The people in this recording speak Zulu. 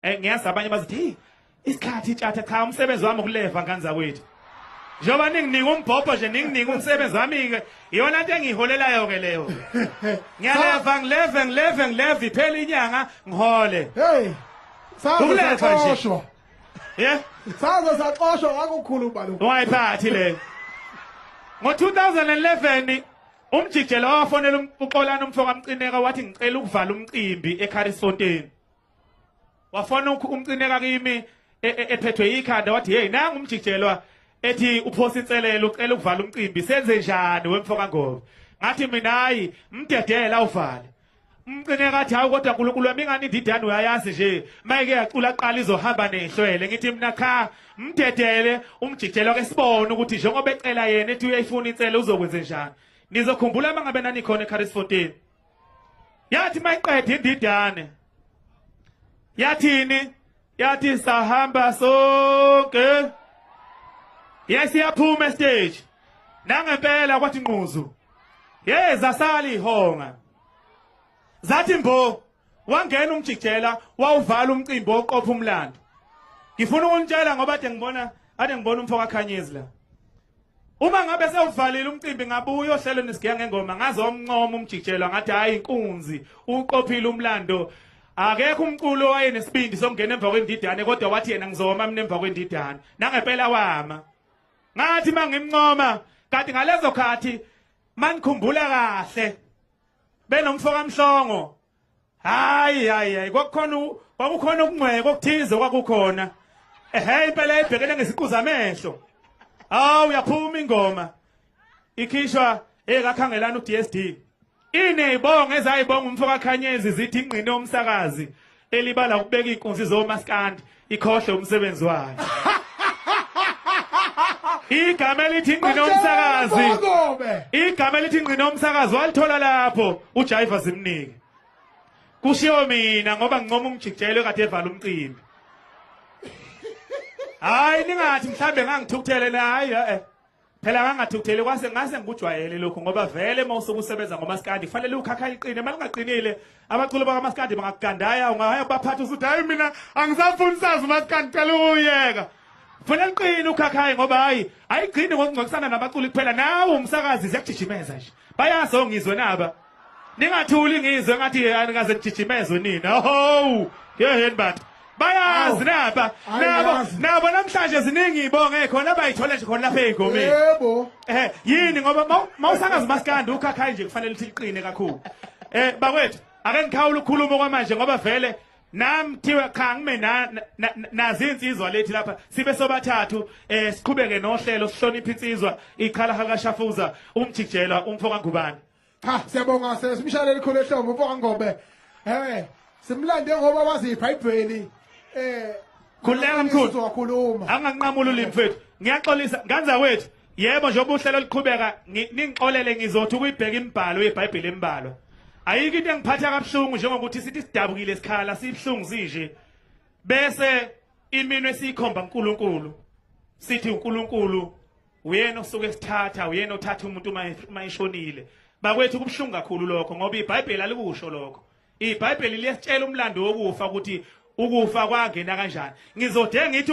Eh ngiyazi abanye bazithi hey isikhathi itshatha cha umsebenzi wami ukuleva ngane zakwethu. Njengoba ninginika umbhobho nje ninginika umsebenzi wami ke iyona into engiholelayo ke leyo. Ngiyaleva ngileve ngileve ngileve iphela inyanga ngihole. Hey. Saze Ukulethwa nje. saxoshwa. Yeah. Saze saxoshwa wakukhulu ubalo. Wayiphathi le. Ngo-2011 umjijelo wawafonela um- uxolani umfoka mcineka wathi ngicela ukuvala umcimbi eCarisfontein. wafona umcineka kimi e, e, ephethwe ikhanda wathi hey nangu umjijelwa ethi uphosa inselelo ucela ukuvala umcimbi senze njani wemfo kaNgobe ngathi mina hayi mdedela uvale umcine kathi hawu kodwa uNkulunkulu wami ingani indidane uyayazi nje mayike yacula qala izohamba nehlwele ngithi mina cha mdedele umjijelo ke sibone ukuthi njengoba ecela yena ethi uyayifuna insele uzokwenze njani nizokhumbula mangabe nanikhona eCarisfontein yathi mayiqeda indidane yathini yathi sahamba sonke yesiyaphuma estage nangempela kwathi nquzu hey zasali ihonga zathi mbo wangena umjikjela wawuvala umcimbi oqopha umlando ngifuna ukunitshela ngoba ade ngibona ade ngibona umfo kakhanyezi la Uma ngabe sewuvalile umcimbi ngabuya ohlelo nisigiya ngengoma ngaze omncoma umjijelwa ngathi hayi inkunzi uqophile umlando akekho umculo wayenesibindi sokungena emva kwendidane kodwa wathi yena ngizoma mina emva kwendidane nangempela wama ngathi mangimncoma kanti ngalezo khathi manikhumbula kahle benomfoka mhlongo hayi hayi hayi kwakukhona u- kwakukhona ukungcweka okuthize kwakukhona ehe impela ebhekene ngeziqu zamehlo hawu yaphuma ingoma ikhishwa ekakhangelana uDSD inezibongo ezayibonga umfo kaKhanyezi zithi ingqine omsakazi elibala ukubeka ikunzi zomaskandi ikhohle umsebenzi wayo igama elithi ingqina umsakazi igama elithi ingqina umsakazi walithola lapho uJaiva zimnike kushiyo mina ngoba ngincoma ungijijelwe kade evala umcimbi hayi ningathi mhlambe ngangithukuthele nayi eh Phela kangathukutheli kwase ngase ngikujwayele lokhu ngoba vele uma usuke usebenza ngomaskandi kufanele ukhakha iqine uma lingaqinile abaculi bakamaskandi bangakugandaya ungahaya kubaphatha usuthi hayi mina angisafuni sazi umaskandi cela uyeka Fanele uqine ukhakhaye ngoba hayi ayigcini ngokungcokisana nabaculi kuphela nawe umsakazi ziyakujijimeza nje bayazi ongizwe naba ningathuli ngizwe ngathi yeyani kaze nijijimezwe nina ho yeheni bantu bayazi naba nabo nabo namhlanje ziningi ibonge khona abayithola nje khona lapha ey'ngomeni yebo eh yini ngoba mawusangazi maskandi ukhakhayi nje kufanele ukuthi liqine kakhulu eh bakwethu ake ngikhawula ukukhuluma kwamanje ngoba vele nam kuthiwe cha ngime nazi insizwa lethi lapha sibe sobathathu um eh, siqhubeke nohlelo sihloniphe insizwa ikhala hakashafuza umjijelwa umfo kangubane cha siyabonga simshalele khulu ehlombe umfo kangobe um simlande ngoba wazi ibhayibheli um eh, khululeka mkhulu anganqamula ulimi mfethu ngiyaxolisa nganza wethu Yebo njengoba uhlelo liqhubeka ngi- ningixolele ngizothi ukuyibheka imibhalo yeBhayibheli embalwa. Ayikho into engiphatha kabuhlungu njengokuthi sithi sidabukile isikhala sibuhlungu sinje bese iminwe siyikhomba uNkulunkulu sithi uNkulunkulu uyena osuke sithatha uyena othatha umuntu uma uma eshonile. Bakwethu kubuhlungu kakhulu lokho ngoba iBhayibheli alikusho lokho. IBhayibheli liyasitshela umlando wokufa ukuthi ukufa kwangena kanjani. Ngizode ngithi